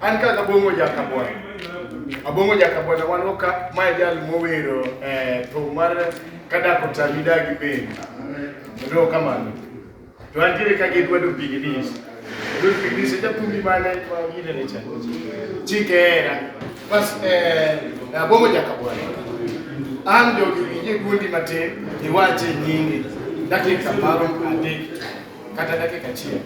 An ka Kabongo Jakabwana. Abongo Jakabwana wan go ka mae jal mowero eh, thum mar kadako tami dagi piny. Ero kamano. To antiere ka gi Edward Opiginis. Edward Opiginis e jathumbi mane ma gine ne cha. Chike era. Bas eh, Abongo Jakabwana. An jogi winje guondi matin iwache nyingi dakika maro adek kata dakika achiel.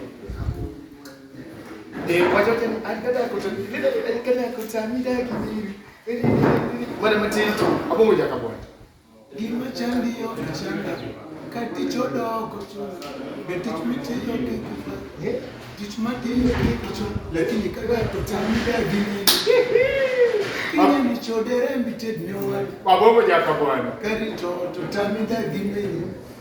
eh wajen kan an kada ku tafi kada an kada ku sami da ki ne wani mutum to abun wajen ka bwana gima chandi yo chanda kati chodoko be tich mitiyo gi kifa tich matiyo gi kicho lakini kada ku sami da ki ne Ine ni chodere mbited ne wali babu wajen ka bwana kari to to sami da ki ne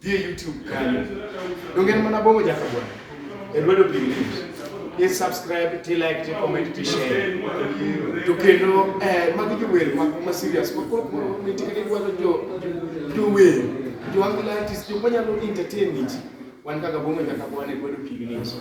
Dhie YouTube kanyo. Donge en mana bongo jaka bwana. E lwedo Big News. I subscribe, ti like, ti comment, ti share. To kendo eh magi jower ma ma serious. Ko ko ko ni tikene dwaro jo jower. Jo angilatis jo manyalo entertain ji. Wan kaka bongo jaka bwana e lwedo Big News.